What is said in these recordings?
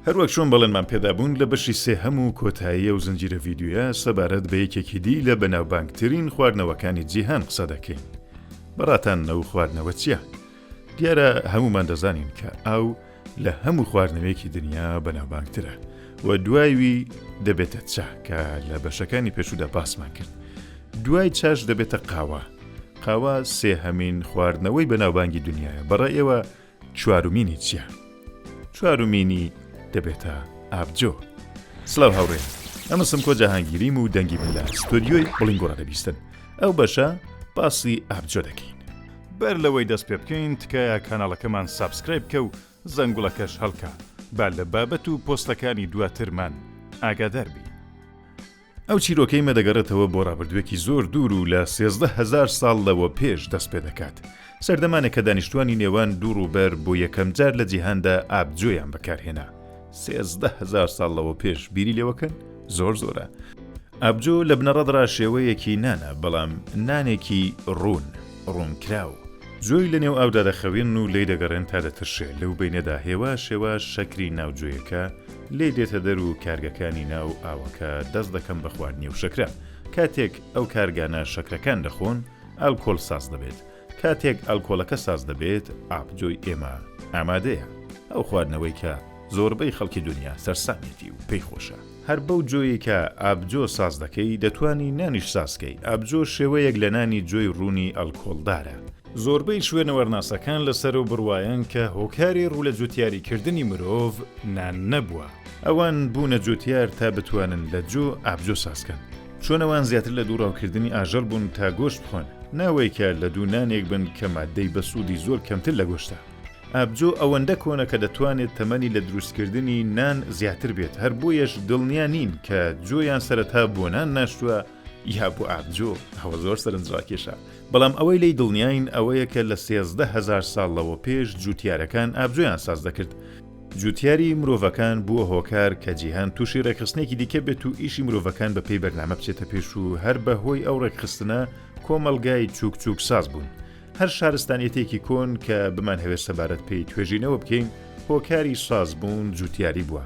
هەروەک چۆن بەڵێنمان پێدابوون لە بەشی سێهەم و کۆتایی ئەو زنجیرە ڤیدیۆیە سەبارەت بە یەکێکی دی لە بەناوبانگترین خواردنەوەکانی جیهان قسە دەکەین بەڕاتان نەو خواردنەوە چییە؟ دیارە هەمومان دەزانین کە ئاو لە هەموو خواردنەوەیەکی دنیا بەناوبانگترە و دوایوی دەبێتە چا کە لە بەشەکانی پێشودا باسمان کرد دوای چاش دەبێتە قاوە قاوە سێهەمین خواردنەوەی بەناوبانگی دنیاە بەڕێ ئێوە چوارمینی چییە؟ چوارمینی دەبێتە ئابجۆ سلااو هاوڕێ ئەمە سمکۆ جەهانگیریم و دەنگی من لە ستۆدیۆی بڵین گۆڕە دەبیستن ئەو بەشە باسی ئابجۆ دەکەین بەر لەوەی دەست پێ بکەین تکایە کاناڵەکەمان سابسکرای بکە و زەنگوڵەکەش هەڵکە با لە بابەت و پۆستەکانی دواترمان ئاگادار بی. ئەو چیرۆکەی مە دەگەڕێتەوە بۆ ڕابردووێکی زۆر دوور و لە سێزدە هەزار ساڵ لەوە پێش دەست پێ دەکات. سەردەمانێک کە دانیشتووانی نێوان دوو ڕووبەر بۆ یەکەم جار لە جیهاندا ئابجۆیان بەکار هێنا. سێزدە هەزار ساڵ لەوە پێش بیری لێوەکەن؟ زۆر زۆرە. ئابجۆ لە بنەڕەتڕا شێوەیەکی نانە، بەڵام نانێکی ڕوون، ڕوونکراو. جۆی لە نێو ئاودا دەخەوێن و لێی دەگەڕێن تا دەترشێ، لەو بەینەدا هێواش هێواش شەکری ناو جۆیەکە لێی دێتە دەر و کارگەکانی ناو ئاوەکە دەست دەکەن بە خواردنی ئەو شەکرە. کاتێک ئەو کارگانە شەکرەکان دەخۆن، ئالکۆل ساز دەبێت. کاتێک ئالکۆلەکە ساز دەبێت، ئابجۆی ئێمە ئامادەیە. ئەو خواردنەوەی کە زۆربەی خەڵکی دونیا سەرسامێتی و پێی خۆشە. هەر بەو جۆیەی کە ئابجۆ ساز دەکەی دەتوانی نانیش ساز کەی، ئابجۆ شێوەیەک لە نانی جۆی روونی ئەلکۆڵدارە. زۆربەی شوێنەوارناسەکان لەسەرو بڕوایەن کە هۆکاری روو لە جوتیاریکردنی مرۆڤ نان نەبووە. ئەوان بوونە جوتیار تا بتوانن لە جۆ ئابجۆ ساز کەن. چۆن ئەوان زیاتر لە دوو راوکردنی ئاژەڵ بوون تا گۆشت بخۆن، ناوەی کە لە دوو نانێک بن کە ماددەی بەسوودی زۆر کەمتر لە گۆشتە. ئابجۆ ئەوەندە کۆنە کە دەتوانێت تەمەنی لە دروستکردنی نان زیاتر بێت، هەر بۆیەش دڵنیا نین کە جۆیان سەرەتا بۆ نان ناشتووە یا بۆ ئابجۆ، ئەوە زۆر سەرنجڕاکێشە، بەڵام ئەوەی لێی دڵنیاین ئەوەیە کە لە سێزدە هەزار ساڵ لەوە پێش جووتیارەکان ئابجۆیان ساز دەکرد، جووتیاری مرۆڤەکان بووە هۆکار کە جیهان تووشی ڕێکخستنێکی دیکە بێت و ئیشی مرۆڤەکان بە پێی بەرنامە بچێتە پێش و هەر بە هۆی ئەو ڕێکخستنە کۆمەڵگای چووک چووکساز بوون، هەر شارستانیەتێکی کۆن کە بمانهەوێت سەبارەت پێی توێژینەوە بکەین، هۆکاری سازبوون جوتیاری بووە.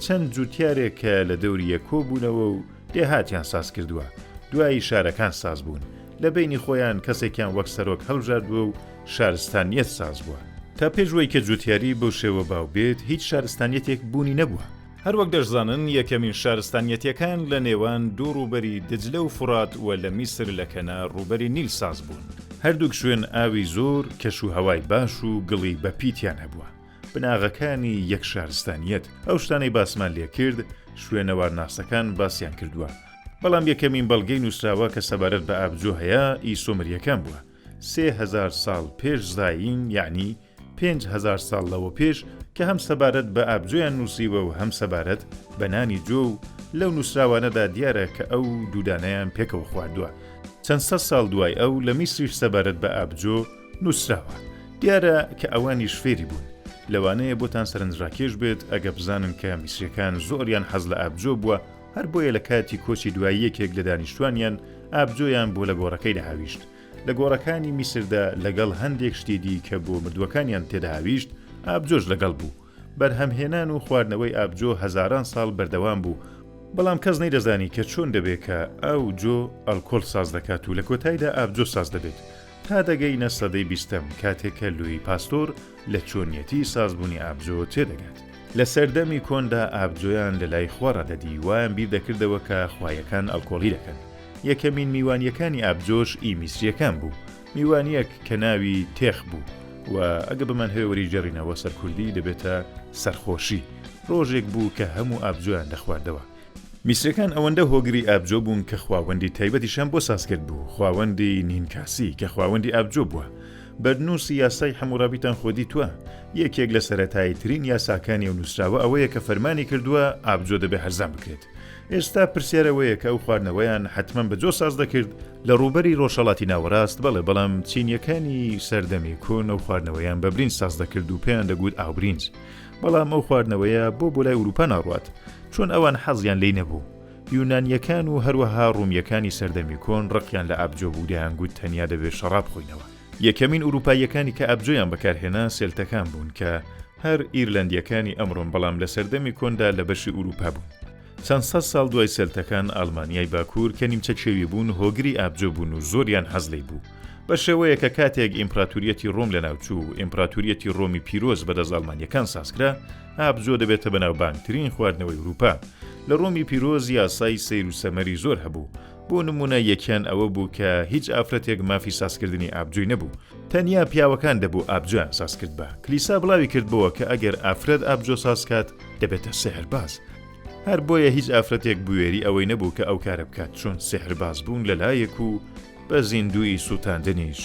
چەند جوتیارێک کە لە دەوری یەک کۆ بوونەوە و دێهاتیان ساز کردووە. دوایی شارەکان ساز بوون. لە بەینی خۆیان کەسێکیان وەک سەرۆک هەڵبژاردووە و شارستانیەت ساز بووە. تا پێش وەی کە جوتیاری بەو شێوە باو بێت، هیچ شارستانیەتێک بوونی نەبووە. هەر وەک دەشزانن یەکەمین شارستانیەتیەکان لە نێوان دوو ڕووبەری دجلە و فوڕات وە لە میسر لە کەنار ڕووبەری نیل ساز بوون. هەردووک شوێن ئاوی زۆر کەش و هەوای باش و گڵی بە پیتیان هەبووە. بناغەکانی یەک شارستانیەت. ئەو شتانەی باسمان لێ کرد شوێنەوارناسەکان باسیان کردووە. بەڵام یەکەمین بەڵگەی نووسراوە کە سەبارەت بە ئابجۆ هەیە ئی سۆمریەکان بووە. سێ هەزار ساڵ پێش زایین یەعنی پێنج هەزار ساڵ لەوە پێش کە هەم سەبارەت بە ئابجۆیان نووسیوە و هەم سەبارەت بە نانی جۆ و لەو نووسراوانەدا دیارە کە ئەو دوو دانەیان پێکەوە خواردووە چەند سەد ساڵ دوای ئەو لە میسریش سەبارەت بە ئابجۆ نووسراوە دیارە کە ئەوانیش فێری بوون لەوانەیە بۆتان سەرنجڕاکێش بێت ئەگە بزانن کە میسریەکان زۆریان حەز لە ئابجۆ بووە هەر بۆیە لە کاتی کۆچی دوایی یەکێک لە دانیشتوانیان ئابجۆیان بۆ لە گۆڕەکەیدا هاویشت لە گۆڕەکانی میسردا لەگەڵ هەندێک شتی دی کە بۆ مردووەکانیان تێدەهاویشت، ئابجۆش لەگەڵ بوو. بەرهەمهێنان و خواردنەوەی ئابجۆ هەزاران ساڵ بەردەوام بوو، بەڵام کەس نەیدەزانی کە چۆن دەبێت کە ئاو جۆ ئەلکۆل ساز دەکات و لە کۆتایدا ئابجۆ ساز دەبێت. تا دەگەینە سەدەی بیستەم، کاتێک کە لویی پاستۆر، لە چۆنیەتی سازبوونی ئابجۆ تێدەگات. لە سەردەمی کۆندا ئابجۆیان لە لای خوا ڕادەدی، وایان بیر دەکردەوە کە خوایەکان ئەڵکۆڵی دەکەن. یەکەمین میوانییەکانی ئابجۆش ئی میسرییەکان بوو، میوانییەک کە ناوی، تێخ، بوو و ئەگە بمانهەوێ وەریگێڕینەوە سەر کوردی دەبێتە، سەرخۆشی. ڕۆژێک بوو کە هەموو ئابجۆیان دەخواردەوە. میسرییەکان ئەوەندە هۆگری ئابجۆ بوون کە خواوەندی تایبەتیشیان بۆ ساز کردبوو، خواوەندی، نینکاسی، کە خواوەندی ئابجۆ بووە. بەرنووسی یاسای حەمووڕابیتان خۆ دیتووە، یەکێک لە سەرەتاییترین یاساکانی ئەو نووسراوە ئەوەیە کە فەرمانی کردووە ئابجۆ دەبێ هەرزان بکرێت. ئێستا پرسیار ئەوەیە کە ئەو خواردنەوەیان حەتمەن بە جۆ ساز دەکرد؟ لە ڕووبەری ڕۆژهەڵاتی ناوەڕاست بەڵێ، بەڵام چینییەکانی سەردەمی کۆن ئەو خواردنەوەیان بە برینج ساز دەکرد و پێیان دەگوت ئاوبرینج. بەڵام ئەو خواردنەوەیە بۆ بۆ لای ئورووپا ناڕوات؟ چۆن ئەوان حەزیان لێی نەبوو؟ یونانییەکان و هەروەها ڕوومییەکانی سەردەمی کۆن ڕقیان لە ئابجۆ بوو دەیانگوت تەنیا دەبێت شەڕاب بخۆینەوە. یەکەمین ئورووپاییەکانی کە ئابجۆیان بەکارهێنا سێلتەکان بوون کە هەر ئیرلەندییەکانی ئەمڕۆن بەڵام لە سەردەمی کۆندا لە بەشی ئورووپا بوون. چەند سەد ساڵ دوای سێلتەکان ئاڵمانیای باکوور کە نیمچە کێوی بوون هۆگری ئابجۆ بوون و زۆریان حەز لێی بوو بە شێوەیە کە کاتێک ئیمپراتوریەتی ڕۆم لەناوچوو و ئیمپراتوریەتی ڕۆمی پیرۆز بەدەست ئاڵمانییەکان سازکرا ئابجۆ دەبێتە بەناوبانگترین خواردنەوەی ورووپا. لە ڕۆمی پیرۆز یاسای سەیر و سەمەری زۆر هەبوو. بۆ نموونە یەکیان ئەوە بوو کە هیچ ئافرەتێک مافی سازکردنی ئابجۆی نەبوو. تەنیا پیاوەکان دەبوو ئابجۆیان سازکردبا. کلیسا بڵاوی کردبۆوە کە ئەگەر ئافرەت ئابجۆ سازکات دەبێتە سیحرباز. هەر بۆیە هیچ ئافرەتێک بوێری ئەوەی نەبوو کە ئەو کارە بکات چون سیحربازبوون لە لایەک و بە زیندوویی سووتاندنیش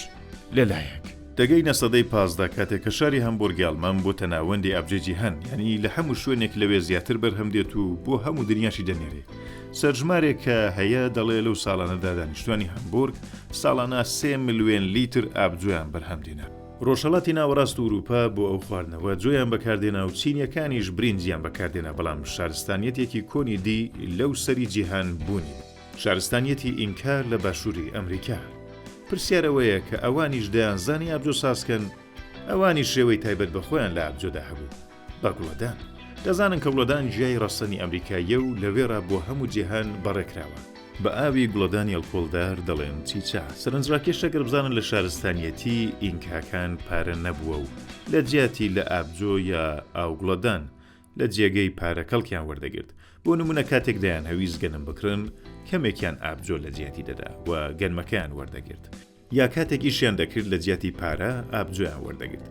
لە لایەک. دەگەینە سەدەی پازدە کاتێک کە شاری هەمبورگی ئەڵمان بۆتە ناوەندی ئابجەی جیهان یانی لە هەموو شوێنێک لەوێ زیاتر بەرهەم دێت و بۆ هەموو دنیاشی دەنێرێ سەرژمارێک کە هەیە دەڵێ لەو ساڵانەدا دانیشتوانی هەمبورگ ساڵانە سێ ملوێن لیتر ئاب جۆیان بەرهەم دێنا. ڕۆژهەڵاتی ناوەڕاست و ورووپا بۆ ئەو خواردنەوە جۆیان بەکار دێنا و چینیەکانیش برینجیان بەکار دێنا بەڵام شارستانیەتێکی کۆنی دی لەو سەری جیهان بوونی شارستانیەتی ئینکا لە باشووری ئەمریکا. پرسیار ئەوەیە کە ئەوانیش دەیانزانی ئابجۆ سازکەن؟ ئەوانیش شێوەی تایبەت بە خۆیان لە ئابجۆدا هەبوو. بە گوڵەدان. دەزانن کە گوڵەدان گیای ڕەسەنی ئەمریکاییە و لەوێڕا بۆ هەموو جیهان بەڕێکراوە. بە ئاوی گوڵەدانی ئەڵکۆڵدار دەڵێن چیچا. سەرنجڕاکێشە گەر بزانن لە شارستانیەتیی ئینکاکان پارە نەبووە و لە جیاتی لە ئابجۆ یا ئاوگوڵەدان، لە جێگەی پارە کەڵکیان وەردەگرت، بۆ نموونە کاتێک دەیانهەویست گەنم بکڕن، کەمێکیان ئابجۆ لە جیاتی دەدا و گەنمەکەیان وەردەگرت، یا کاتێک ئیشیان دەکرد لە جیاتی پارە ئابجۆیان وەردەگرت.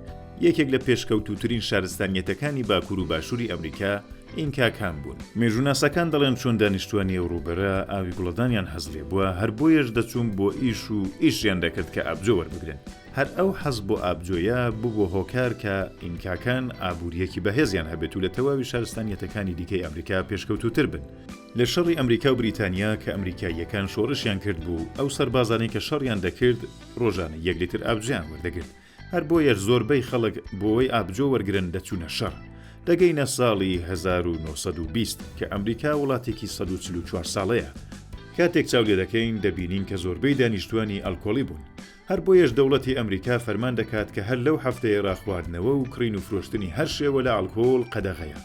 یەکێک لە پێشکەوتووترین شارستانییەتەکانی باکوور و باشووری ئەمریکا ئینکاکان بوون. مێژووناسەکان دەڵێن چۆن دانیشتووانی ئەو ڕووبەرە ئاوی گوڵەدانیان هەست لێبووە، هەر بۆیەش دەچوون بۆ ئیش و ئیشیان دەکرد کە ئابجۆ وەربگرن. هەر ئەو حەز بۆ ئابجۆیە ببوە هۆکار کە ئینکاکان ئابوریەکی بەهێزیان هەبێت و لە تەواوی شارستانیەتەکانی دیکەی ئەمریکا پێشکەوتوتر بن. لە شەڕی ئەمریکا و بریتانیا کە ئەمریکاییەکان شۆڕشیان کرد بوو ئەو سەربازانەی کە شەڕیان دەکرد ڕۆژانە یەک لیتر ئابجۆیان وەردەگرت هەر بۆیەش زۆربەی خەڵک بۆوەی ئابجۆ وەرگرن دەچونە شەڕ. دەگەینە ساڵی هەزار و نۆ سەد و بیست کە ئەمریکا وڵاتێکی سەد و چل و چوار ساڵەیە، کاتێک چاو لێدەکەین دەبینین کە زۆربەی دانیشتوانی ئەلکۆڵی بون هەر بۆیەش دەوڵەتی ئەمریکا فەرمان دەکات کە هەر لەو هەفتەیەڕا خواردنەوە و کڕین و فرۆشتنی هەر شێوە لە ئەڵکۆڵ قەدەغەیە.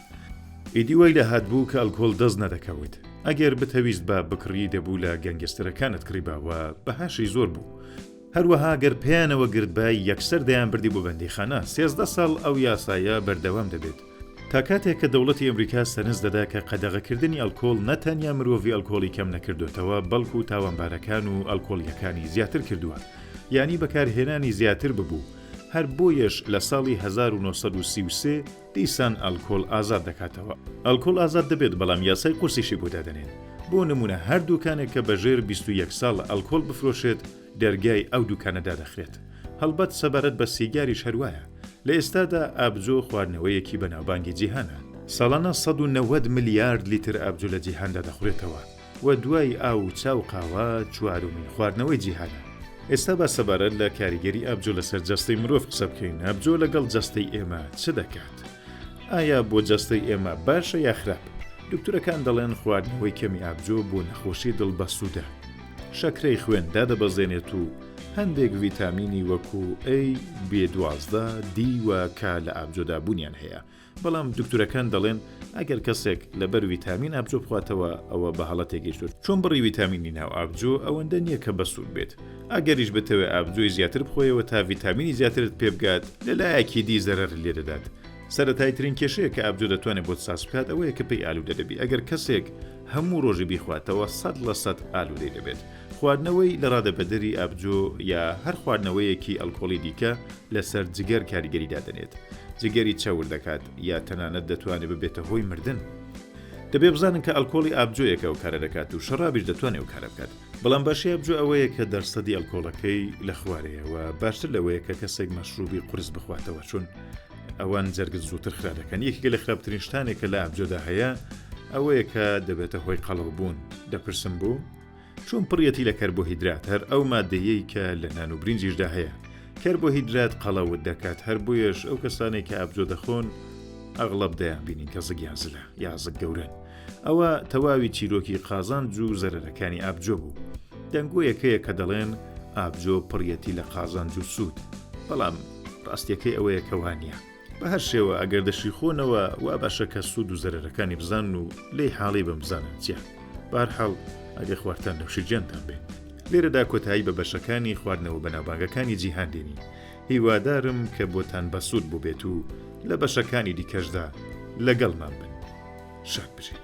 ئیدی وای لە هاتبوو کە ئەڵکۆڵ دەست نەدەکەوت. ئەگەر بتهەویستبا بکڕی دەبوو لە گەنگستەرەکانت کڕیبا و بەهاشی زۆر بوو. هەروەها گەر پێیانەوە گرتبای یەکسەر دەیانبردی بۆ بەندیخانە. سێزدە ساڵ ئەو یاسایە بەردەوام دەبێت. تا کاتێک کە دەوڵەتی ئەمریکا سەرنج دەدا کە قەدەغەکردنی ئەلکۆڵ نە تەنیا مرۆڤی ئەلکۆڵی کەم نەکردۆتەوە بەڵکو تاوانبارەکان و ئەلکۆڵیەکانی زیاتر کردوە یانی بەکارهێنانی زیاتر ببو هەر بۆیەش لە ساڵی هەزار و نۆ سەد و سی و سێ دیسان ئەلکۆڵ ئازاد دەکاتەوە. ئەلکۆڵ ئازاد دەبێت بەڵام یاسای قورسیشی بۆ دادەنێن بۆ نمونە هەر دوکانێک کە بەژێر بیست و یەک ساڵ ئەلکۆڵ بفرۆشێت، دەرگای ئەو دوکانە دادەخرێت. هەڵبەت سەبارەت بە سیگاریش هەروایە. لە ئێستادا ئابجۆ خواردنەوەیەکی بەناوبانگی جیهانە. ساڵانە سەد و نەوەد ملیارد لیتر ئابجۆ لە جیهاندا دەخورێتەوە و دوای ئاو و چا و قاوە چوارەمین خواردنەوەی جیهانە. ئێستا با سەبارەت لە کاریگەری ئابجۆ لەسەر جەستەی مرۆڤ قسە بکەین، ئابجۆ لەگەڵ جەستەی ئێمە چ دەکات؟ ئایا بۆ جەستەی ئێمە باشە یا خراپ؟ دوکتورەکان دەڵێن خواردنەوەی کەمی ئابجۆ بۆ نەخۆشی دڵ بەسوودە. شەکرەی خوێن دادەبەزێنێت و هەندێک ڤیتامینی وەکو A، B دوازدە، D و K لە ئابجۆدا بوونیان هەیە، بەڵام دوکتورەکان دەڵێن ئەگەر کەسێک لەبەر ویتامین ئابجۆ بخواتەوە ئەوە بە هەڵە تێگەیشتوە، چون بڕی ویتامینی ناو ئابجۆ ئەوەندە نیە کە بەسوود بێت، ئەگەریش بتەوێت ئابجۆی زیاتر بخۆیەوە تا ڤیتامینی زیاترت پێبگات لەلایەکی دی زەرەرت لێدەدات. سەرەتایترین کێشەیە کە ئابجۆ دەتوانێت بۆت ساز بکات ئەوەیە کە پێی ئالودە دەبی، ئەگەر کەسێک هەموو ڕۆژی بیخواتەوە سەد لە سەد ئالوودەی دەبێت. خواردنەوەی لە ڕادەبەدەری ئابجۆ یا هەر خواردنەوەیەکی ئەلکۆڵی دیکە لەسەر جگەر کاریگەری دادەنێت، جگەری چەور دەکات یا تەنانەت دەتوانێت ببێتە هۆی مردن. دەبێت بزانن کە ئەلکۆڵی ئابجۆیەک ئەو کارە دەکات و شەڕابیش دەتوانێت ئەو کارە بکات. بەڵام باشی ئابجۆ ئەوەیە کە دەرسەدی ئەلکۆڵەکەی لە خوارەیە و باشتر لەوەیە کە کەسێک مەشرووبی قورس بخواتەوە چون ئەوان جەرگت زووتر خرا دەکەن یەکێکە لە خراپترین شتانێک کە لە ئابجۆدا هەیە ئەوەیە کە دەبێتە هۆی قەڵەو بوون دەپرسم بوو چون پڕەتی لە کەر بۆ هیدرات هەر ئەو مادەیەی کە لە نان و برنجیشدا هەیە کەر بۆ هیدرات قەڵەوت دەکات هەر بۆیەش ئەو کەسانێک کە ئابجۆ دەخۆن ئەغڵب دەیان بینین کە زگیان زلە یازک گەورن ئەوە تەواوی چیرۆکی قازان جوو زەرەرەکانی ئابجۆ بوو دەنگۆیەکەیە کە دەڵێن ئابجۆ پڕەتی لە قازان جوو سوود بەڵام ڕاستیەکەی ئەوەیە کە وانیە. بە هەر شێوە ئەگەر دەشیخۆنەوە وا باشە کە سوود و زەرەرەکانی بزانن و لێی حاڵی بم بزانن چیە بارحاڵ ئەگە خواردتان نەوشی جیانتان بێ لێرەدا کۆتایی بە بەشەکانی خواردنەوە بەناوبانگەکانی جیهان دێنی هیوادارم کە بۆتان بەسوود بووبێت و لە بەشەکانی دیکەشدا لەگەڵمان بن شاد بژێت.